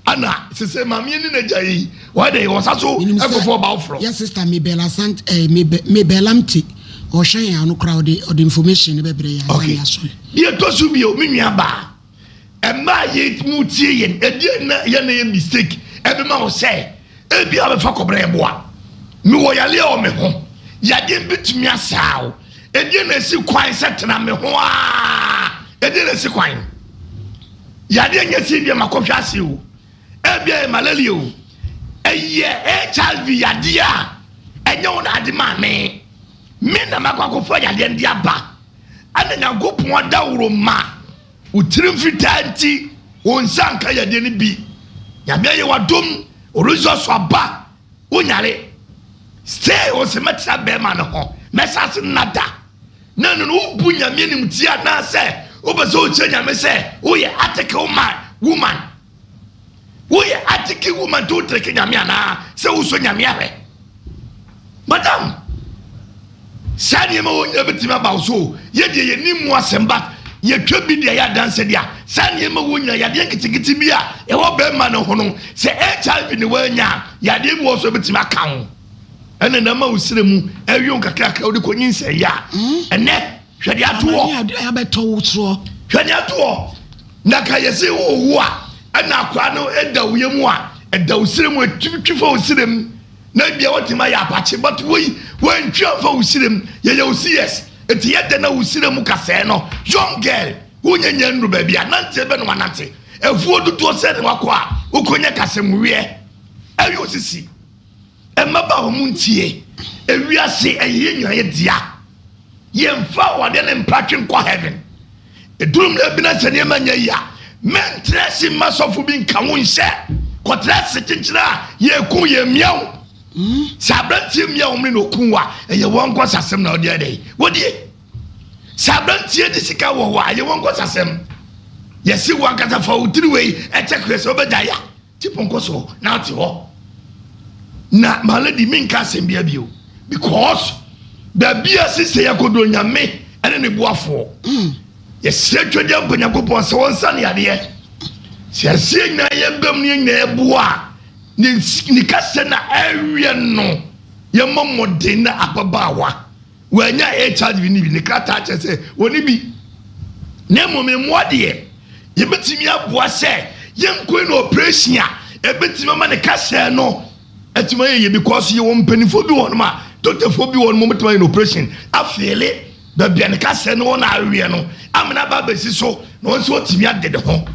ɛna sese maameɛ ne n'agya yi wɔde wɔsa so ɛkɔfo ɔba ɔforɔ yɛ sista mebɛla sant ɛɛ eh, mebɛla mte ɔhwɛ yɛn ano koraa ɔde ɔde information ne bɛbrɛ yɛn ayɛ yɛn aso deɛ ɛtɔ so bio me nua baa Mmerɛ a yɛtumi wotie yɛn, ɛdeɛn na yɛ na yɛ mistake ɛbɛma wo sɛ ɛbi a bɛfa kɔbrɛ ɛboa? Mewɔ yareɛ wɔ me ho, yadeɛ bɛtumi asaa wo, ɛdeɛn na ɛsi kwan sɛ tena me ho aa, ɛdeɛn na ɛsi kwan? Yadeɛ nyɛ sɛ ɛbi a makɔhwɛ ase o, ɛbi a yɛ malaria o, ɛyɛ HIV yadeɛ a ɛnyɛ wo na ade maa me, me na makɔ akɔfa yadeɛ no de aba. ɛna nyankopɔn adaworo ma wo tirim fitaa nti wo nsa nka yadeɛ no bi nyame ayɛ wadom orizɔ so aba wo nyare stay wo se mɛtena bɛrima no ho mɛsa se nada na ɛno no wobu nyame anim ti anaasɛ wobɛ sɛ wokyerɛ nyame sɛ woyɛ article man woman Woyɛ atiki woman to treke nyame anaa sɛ wosɔ nyame ahwɛ madam saa nneɛma wɔ nyina bɛtumi aba wo so yɛ deɛ yɛni mu asɛm but yɛtwa bi deɛ yɛ adanse deɛ saa nneɛma wɔ nyina yadeɛ nketenkete bi a ɛwɔ bɛrima no ho no sɛ hiv ne woanya yadeɛ bi wɔ so bɛtumi aka ho ɛna na ma wo srɛ mu ɛwion kakrakra wode kɔnyi nsɛyɛ a ɛnɛ Hwɛ nea ɛto hɔ. Amane a abɛtɔ wo soɔ. Hwɛ nea ɛto hɔ. Na ka yɛsi wo wu a, ɛna akwaa no ɛda wo yɛ mu a, ɛda wo sire mu, ɛtumi twi fa wo sire mu. Na ebia watumi ayɛ apakye, but woi, wantwi amfa wo sire mu. Yɛyɛ wo CS. Enti yɛ dɛn na wo sire mu ka sɛɛ no? Young girl, wonyɛ nya nnuru baabi a, nanteɛ bɛ na wanante. Afuo dodoɔ sɛn na wakɔ a, wokɔnya kasamuweɛ? Ɛyɛ osisi. Mmabaawa mo ntie, ewiase ɛyeyɛ nyinaa yɛ dea, yɛnfa awadeɛ ne mpratwe nkɔ heaven, ɛduru mmerɛ bi na sɛ nneɛma nyɛ yie a, mɛntra ase mma sɔfo bi nka wo nhyɛ, kɔtra ase kyenkyen a yɛku yɛn mmea wo, hmm? sɛ aberanteɛ mmea wɔn ne na ɔku a ɛyɛ wɔn nkɔsasɛm na ɔde adɛ wɔdie, sɛ aberanteɛ de sika wɔ hɔ a ɛyɛ wɔn nkɔsasɛm, yɛsi wɔn ankasa fa wo tiri wei ɛkyɛ kwerɛ sɛ wobɛgya ya. Ti pɔnkɔ so na ate hɔ. Na my lady me nka asɛm bia bio because baabi a ɛsi sɛ yɛkɔdɔ nyame ɛne ne boafoɔ yɛsrɛ twɛdeɛ mpa nyankopɔn sɛ wɔnsa ne adeɛ sɛ yɛsɛ nyinaa yɛbam ne nyinaa ɛboa a ne kasɛ na ɛwiɛ no yɛmmɔ mmɔden na ababaawa Wɔanya HIV no bi, ne krataa kyerɛ sɛ wɔnni bi. Na mmom mmoa deɛ, yɛbɛtumi aboa sɛ yɛnkɔ no operation a ɛbɛtumi ama ne kasaa no atumi ayɛ yie because yɛwɔ mpanimfoɔ bi wɔ hɔnom a, dɔktafoɔ bi wɔ hɔnom a wɔbɛtumi ayɛ no operation afeele baabi a ne kasaa no wɔ no aweɛ no ama no aba abɛsi so na ɔno nso watumi ade ne ho.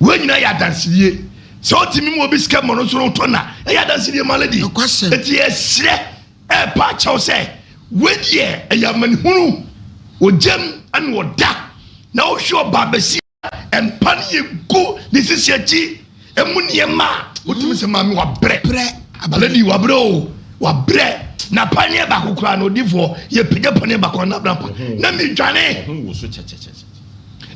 Wei nyinaa yɛ adansedie. Sɛ wotumi ma obi sika ma ɔno nso ɔtɔ no a, ɛyɛ adansedie ma lady. Nokwasɛm. Enti yɛsrɛ Ɛrepa akyɛw sɛ wei deɛ ɛyɛ amanehunu, ogyam na ɔda, na wohwɛ ɔbaa basia a mpa no yɛ gu ne sisi akyi, ɛmu nneɛma a, wotumi sɛ maame wabrɛ, lady wabrɛ o, wabrɛ, na paneɛ baako koraa no odifoɔ yɛpagya paneɛ baako a na abena pa, na medwane,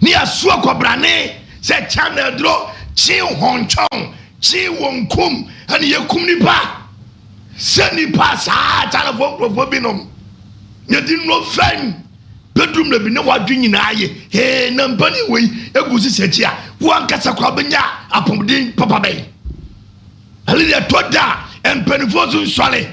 ne yɛaso akɔbrane sɛ kya na aduro, kye hɔntwɔn, kye wɔnkum, ɛne yɛkum nipa. Sɛ nnipa a saa akyalefoɔ nkurɔfoɔ binom na di nnuro fɛn bɛduru mmerɛ bi na wɔadwe nyinaa ye, hee na mpanin wei gu sisi akyi a, wo ankasa koraa bɛnya apɔmuden papa bɛn? Ɛne deɛ ɛtɔ da a mpaninfoɔ so nsɔre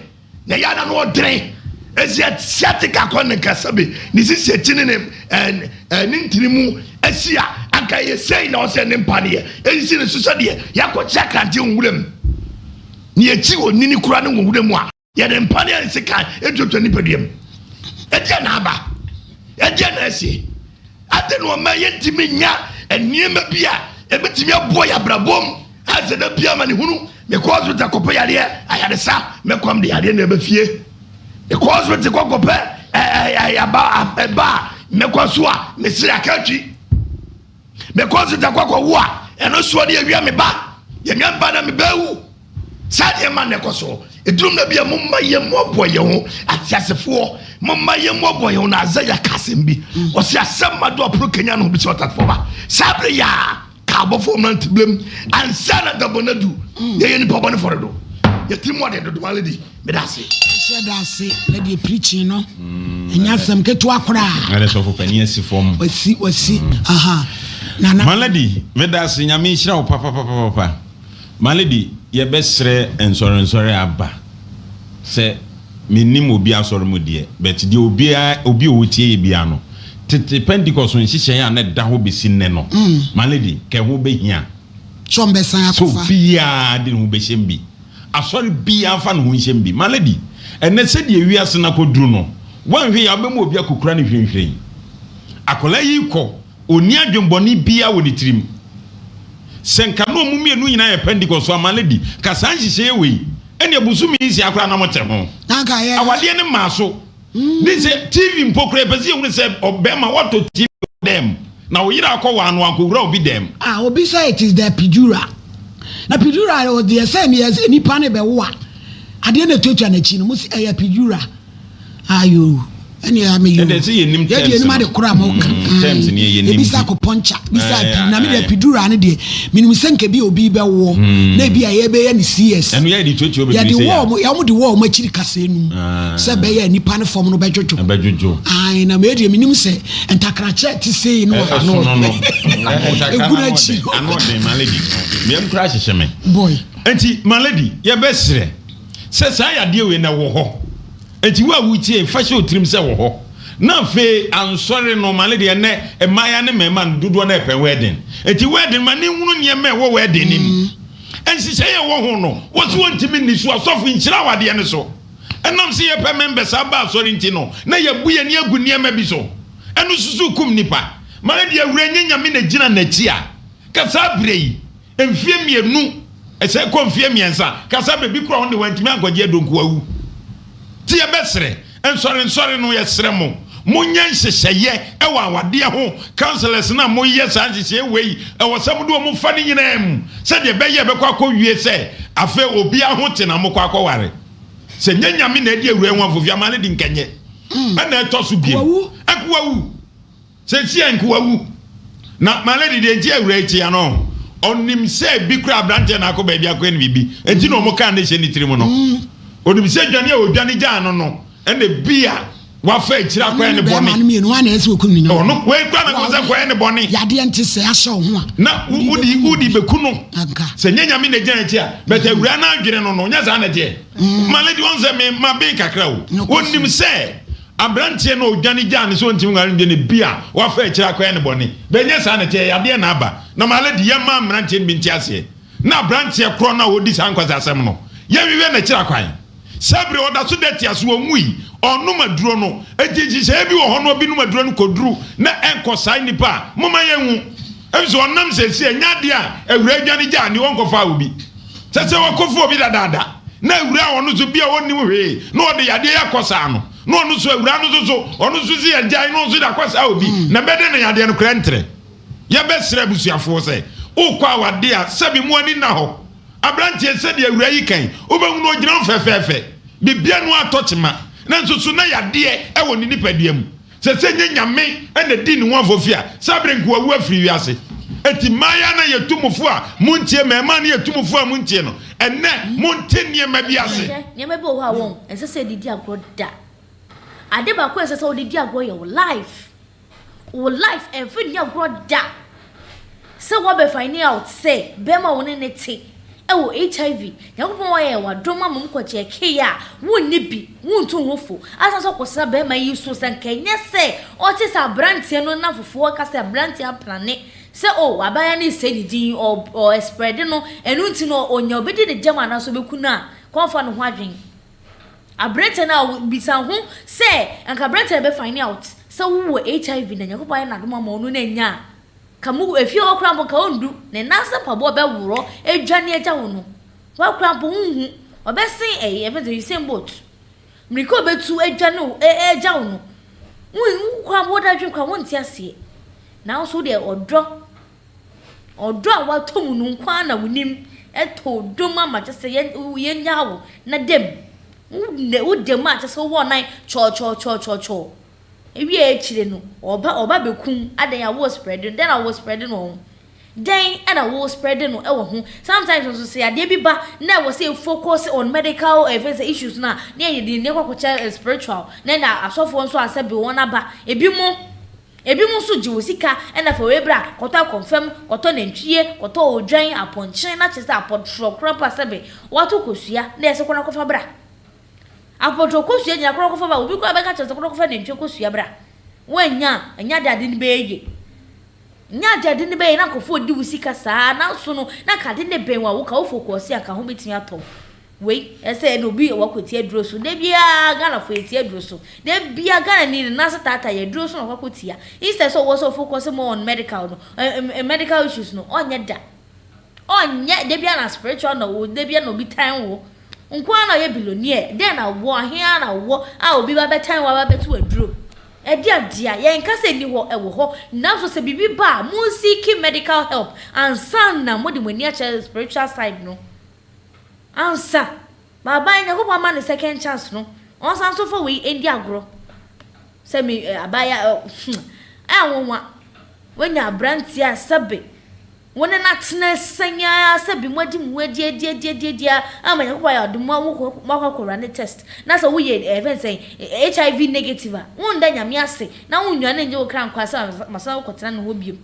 na ɛyɛ ana no ɔdene ɛsi asiatic akɔ ne nkasa bi ne sisi akyi ne ne ntini mu asi a anka ɛyɛ sei na ɔsɛ ne mpaneɛ ɛsisi ne so sɛdeɛ yɛakɔkyerɛ krante nwura mu. Nea eti onini koraa no wɔ wuram a, yɛde mpa ne nsekan duadua nipadua mu. Ɛdeɛn na aba? Ɛdeɛn na asie? Adɛn na ɔma yɛntumi nya nneɛma bi a ɛbɛtumi aboa yɛ abrabɔ mu? Ɛsɛ da bia ma ne hunu mekɔ hospital kɔpɛ yareɛ ayaresa mɛkɔm de yareɛ na ɛbɛ fie mekɔ hospital kɔ kɔpɛ ɛba a mɛkɔ so a mesere aka atwi Mekɔ nseta kɔ kɔ wo a ɛno soɔ ne awia me ba yɛ nua mba na me bɛwu saa deɛ ma na ɛkɔ so ɛduru na bi a mo mma yɛ mo aboa yɛ ho ateasefoɔ mo mma yɛ mo aboa yɛ ho na azɛ yɛ ka asɛm bi ɔsi asɛm ma do aporo kenya no ho bi sɛ ɔtatefoɔ ba saa bere yɛ a ka abɔfoɔ mmerante bilem ansa na dabɔ na du yɛ yɛ nipa bɔ ne fɔre do yɛ tiri mu ɔde dodo ma lady Meda ase. Ɛhyɛ da ase na deɛ preaching no mm, ɛnyɛ asɛm ketewa koraa. Ɛdɛ sɔfo panin asi fam. Wasi wasi mm. aha. Nana. Maladi meda ase nyame nhyira wo papapapapa. Maladi yɛbɛsrɛ nsɔrensɔre aba sɛ menim obi asɔre mu deɛ but deɛ obiara obi ɔwɔ tie yɛ biara no tete Pentecost nhyehyɛeɛ a na ɛda hɔ bɛsi nnɛ no mm. Maladi kɛ ho bɛhia. Sɛ ɔmbɛsan akɔfa. Sɛ obiara de ho bɛhyɛm bi. Asɔre biaa mfa ne ho nhyɛ mu bi. Ma lady, ɛnnɛ sɛdeɛ wiase no akɔduru no, woanhwɛ yie a wobɛma obi akɔkura no hwirenhwiren. Akwadaa yi rekɔ, ɔnni adwembɔne biaa wɔ ne tirim. Sɛ nka na wɔn mmienu nyinaa yɛ Pentecost a, ma lady, ka saa nhyehyɛeɛ wei, ɛnneɛ bosome nsia koraa na mote ho. Na anka yɛ. Awadeɛ no mmaa so. ne sɛ TV mpo koraa ɛpɛ sɛ yɛhunu sɛ ɔbɛrima watɔ TV wɔ dɛm na ɔyere akɔ wɔ ano ankɔwura obi dɛm. A obi sɛ it is the pidura na pidura yɛ deɛ sɛ meyɛ sɛ nipa ne bɛwo a adeɛ na ɛtwatwa n'akyi no mo sɛ ɛyɛ pidura ayo ɛne ɛyɛ meyo yɛde yɛnim ade koro a moka mm, ɛbisa mm, akopɔnkya bisa pii na mede pidura no deɛ menim sɛ nka bi obi bɛwoɔ mm. na ebi a yɛbɛyɛ ne cs yɛde wɔɔ mo yɛmode wɔɔ mo akyiri kasɛɛ num ah. Sɛ ɛbɛyɛ a nnipa no fam no bɛdwodwo. Ɛbɛdwodwo. Ae, na me deɛ menim sɛ ntakrakyɛ a ɛte sei no a. Ɛsono no. Ntakra no ano ɔden. Ano ɔden, my lady. Me yam koraa hyehye me. Boy. Enti, my lady, yɛbɛsrɛ sɛ saa yadeɛ wei no ɛwɔ hɔ. Enti wo a wotie yi, fa hyɛ wo tirim sɛ ɛwɔ hɔ. Na afei, ansɔre no, my lady, ɛnnɛ mmayewa ne mmarima no dodoɔ no ara repɛ wedding. Enti wedding, ma ne nhunu nneɛma a ɛwɔ wedding no mu. Nhyehyɛeɛ a ɛwɔ ho no, wɔse wɔntumi nni so. Asɔfo, nhyira wo adeɛ no so. Ɛnam sɛ yɛpɛ mmɛnbɛsa aba asɔre nti no, na yɛabu yɛn ani agu nneɛma bi so. Ɛno nso so kum nnipa. Mara deɛ wura nyɛ nyame na gyina n'akyi a, ka saa berɛ yi, mfeɛ mmienu, ɛsɛ kɔ mfeɛ mmiɛnsa, ka saa berɛ bi koraa wɔn de wɔantumi ankɔgye Adonko awu. Nti yɛbɛsrɛ, nsɔre nsɔre no, yɛsrɛ mo, monyɛ nhyehyɛeɛ wɔ awadeɛ ho, councillors no a moyɛ saa nhyehyɛeɛ wei, ɛwɔ sɛ mode wɔn fa ne nyinaa mu, sɛdeɛ ɛbɛyɛ ɛbɛkɔ akɔwie sɛ afei obiara ho te na mokɔ akɔware. sɛ nyɛ nyame na ɛde awura yi ho afofiama no de nka nyɛ hmm. ɛna ɛtɔ so biem ɛkowa wu sɛ si ɛnkowa wu na malady deɛ nti awura yi tia no ɔnim sɛ bi kura aberanteɛ na akɔ baabi akɔyɛ no biribi ɛnti na ɔmo kaa ne hyɛ ne tiri mu no ɔnim hmm. sɛ dwane a ɔdwane gyaa no no Ɛna ebia wafa akyiri akɔyɛ ne bɔne. Bɛrima no mmienu a na ɛsɛ okum ne nyɔnko. Ɔno wei kura na kɔ sɛ kɔyɛ ne bɔne. Yadeɛ nti sɛ ahyɛ ɔho a. Na wodi wodi beku no. Anka. Sɛ nyɛ nyame na gyina akyi a bɛtɛ mm-hmm. awura na adwene no no nyɛ saa na deɛ. Mm-hmm. Male deɛ ɔn sɛ me ma ben kakra o. Onim sɛ aberanteɛ na odwane gyaa ne sɛ ɔntumi nware no deɛ ne bi a wafa akyiri akɔyɛ ne bɔne. Bɛnyɛ saa na ɛteɛ yadeɛ na aba. Na male deɛ yɛ maa mmeranteɛ no bi nti aseɛ. na aberanteɛ korɔ no a ɔdi saa nkwasi asɛm no, yɛnhwehwɛ n'akyiri akwan. Saa bere a ɔda so da atia so, ɔnwui, ɔnnom aduro no. Enti nhyehyɛeɛ bi wɔ hɔ na ɔbinom aduro no kɔduru na ɛnkɔ saa nnipa a, momma yɛnhu. Efisɛ ɔnam seesei ɛnyɛ adeɛ a awuraa dwane gyaa ne ɔnkɔfaa obi. Sɛ sɛ wakɔfa obi dadaada na awuraa a ɔno nso bi a ɔnnim hwee na ɔde yadeɛ yi akɔsaa no, na ɔno nso awuraa no nso so ɔno nso se yɛgyae na ɔno nso de akɔsaa obi, na ɛbɛyɛ dɛn na yadeɛ no koraa ntrɛ? Yɛbɛsrɛ abusuafoɔ sɛ, wokɔ awadeɛ a, sɛbi mo ani nna hɔ. Aberanteɛ sɛdeɛ awuraa yi kae, wobɛhunu ɔgyina hɔ fɛfɛɛfɛ, biribiara no ara tɔ kyema, nanso so na yadeɛ wɔ ne nipadua mu. Sɛ sɛ nyɛ Nyame na ɛdii ne ho afɔfie a, saa berɛ nka wawu afiri wiase. Enti mmayaa no a yɛtu mo fo a montie, mmarimaa no a yɛtu mo fo a montie no, ɛnnɛ monte nneɛma bi ase. Hwɛ, nneɛma bi wɔ hɔ a wɔn, ɛnsɛ sɛ yɛde di agorɔ da. Ade baako a ɛnsɛ sɛ wode di agorɔ yɛ wo life. Wo life ɛnfiri nyɛ agorɔ da sɛ woabɛ finding out sɛ bɛɛma a wo ne no te ɛwɔ HIV Nyankopɔn ayɛ w'adom ama mu kɔkyeɛ kee a wonni bi wontu wo ho fo ansa sɛ wokɔsra bɛɛma yi so sɛ nka ɛnyɛ sɛ ɔte sɛ abranteɛ no na fofoɔ ka sɛ abranteɛ aplane sɛ oh abaayewa no resɛe ne din ɔ ɔ ɛsprɛde no ɛno nti no ɔnya obɛdi ne gyam anaa sɛ ɔbɛku no a kɔ mfa no ho adwene Aberanteɛ no a bisa ho sɛ anka aberanteɛ a bɛ find out sɛ wo wɔ HIV na Nyankopɔn ayɛ no adom ama wo no na anya a ka mo efie hɔ koraa mpo nka ɔndu ne nan ase mpaboa bɛ worɔ adwane agya wo no hɔ koraa mpo ho nhu ɔbɛ sen ɛyi ɛfɛ sɛ Usain Bolt mirika ɔbɛ tu adwane wo agya wo no wo koraa mpo wo da adwene koraa wo nte aseɛ nanso wo deɛ ɔdɔ Ɔdɔ a watɔ mu no nko ara na wonim. Ɛtɔ dɔ mu ama kyɛ sɛ yɛ yɛnyaa wo na da mu. Wo woda mu a kyɛ sɛ wowɔ ɔnan kyɔɔkyɔɔkyɔɔkyɔɔ. Ewie akyire no, ɔba ɔba bɛkum adɛn a wo spread no dɛn na wo spread no wɔ ho? Dɛn na wo spread no wɔ ho? Sometimes nso sɛ yadeɛ bi ba na ɛwɔ sɛ focus on medical ɛfɛ sɛ issues no a ne yɛde yɛn ani akɔ akɔkyɛ spiritual na ɛna asɔfoɔ nso asɛ bi wɔn aba. Ebi mo. Ebinom nso gye wo sika na fa wei bra, kɔtɔ akɔmfam, kɔtɔ nantwie, kɔtɔ odwan, apɔnkye, na kyerɛ sɛ apɔtorɔ koraa mpo a sɛbe woato kosua na yɛse kɔ na kɔfa bra. Apɔtorɔ kosua nyinaa kɔ na kɔfa bra, obi koraa bɛka kyerɛ wo sɛ kɔ na kɔfa nantwie kosua bra. Woannya a, ɛnyɛ ade a ade no bɛyɛ yie. Ɛnyɛ ade a ade no bɛyɛ na nkurɔfoɔ redi wo sika saa ara, nanso no, na anka ade no bɛn wo a, woka wo fookuo ɔse anka ho bɛtumi atɔ wo. Wei ɛsɛ yɛde obi wakɔ ti aduro so da biara Ghana fo yɛ ti aduro so da biara Ghana ni ne nan ase taataa yɛ aduro so na wakɔ tia instead sɛ ɔwɔ sɛ ɔfocus more on medical no ɛɛ medical issues no ɔnyɛ da ɔnyɛ da biara na spiritual na ɔwɔ da biara na obi tan wo nko ara na ɔyɛ billionaire dɛn na wɔ ahe ara na wɔ a obi ba bɛtan wɔ aba bɛto aduro ɛde adeɛ a yɛn nka sɛ ni hɔ ɛwɔ hɔ nanso sɛ biribi ba a mo seeking medical help ansa na mo de mo ani akyɛ spiritual side no. Ansa M'aban Nyankopɔn ma no second chance no, ɔnsan so mfa wei ndi agorɔ. Sɛ me eh, abaayewa eh, hmm, ɛyɛ nwonwa. Woanya aberanteɛ a sɛbe wo ne no atena sɛn ara sɛbe moadi mo ho adi adi adi adi adi ara ama Nyankopɔn ayɛ ɔdom ma wokɔ moakɔ akɔwura ne test na sɛ woyɛ eh, ɛfɛn sɛn eh, HIV negative a, wonda Nyame ase na wonnwane nnye wo kra nkwa sɛ masan akɔtena ne hɔ biom.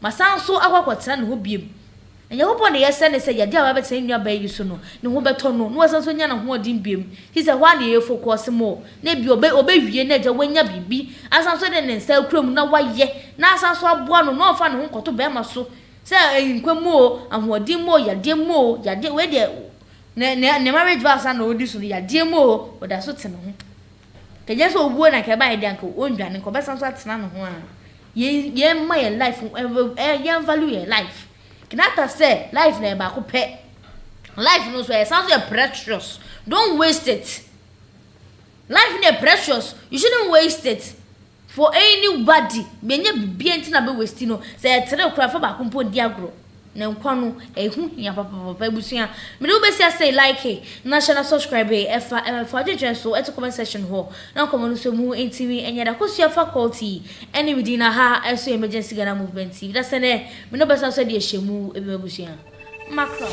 Masan nso akɔ akɔtena ne hɔ bio. Onyankopɔn de yɛsrɛ no sɛ yadeɛ a wabɛtena ne nuabaa yi so no, ne ho bɛtɔ no, na wasan nso anya n'ahoɔden bio. Te sɛ hɔ ara na yɛyɛ focus mɔ, na ebia ɔbɛ, ɔbɛwie na agya wanya biribi, asan nso de ne nsa akura mu na wayɛ, na asan nso aboa no na ɔmfa ne ho nkɔto barima so, sɛ ɛyɛ nkwa mu o, ahoɔden mu o, yadeɛ mu o, yadeɛ, wei deɛ, ne, ne, ne marriage vows a na ɔredi so no, yadeɛ mu o, ɔda so te ne ho. Ɛnyɛ sɛ owuo na anka ɛbaeɛ deɛ anka ɔndwane nka ɔbɛsan nso atena ne ho ara yɛn yɛn mma yɛn life ɛɛ yɛn value yɛn life Kenyatta sɛ life no ɛyɛ baako pɛ life no nso ɛsan nso yɛ precious don't waste it life no yɛ precious you shouldn't waste it. For anybody menya bibia nti na bɛ wasti no sɛ ɛtere koraa fa baako mpo ndi agorɔ na nkwa no ɛho hia papapapa abusua mede wo bɛsi asɛi likee na hyɛ na subscribee ɛfa ɛfa adwendwene nso to comment section hɔ na nkɔmɔ no sɔ mu ntimi nyɛ da kosua faculty ɛne me din na ha nso yɛ emergency Ghana movement TV na sɛ nɛ me no bɛsan so adi ahyɛ mu bi m'abusua mackerel.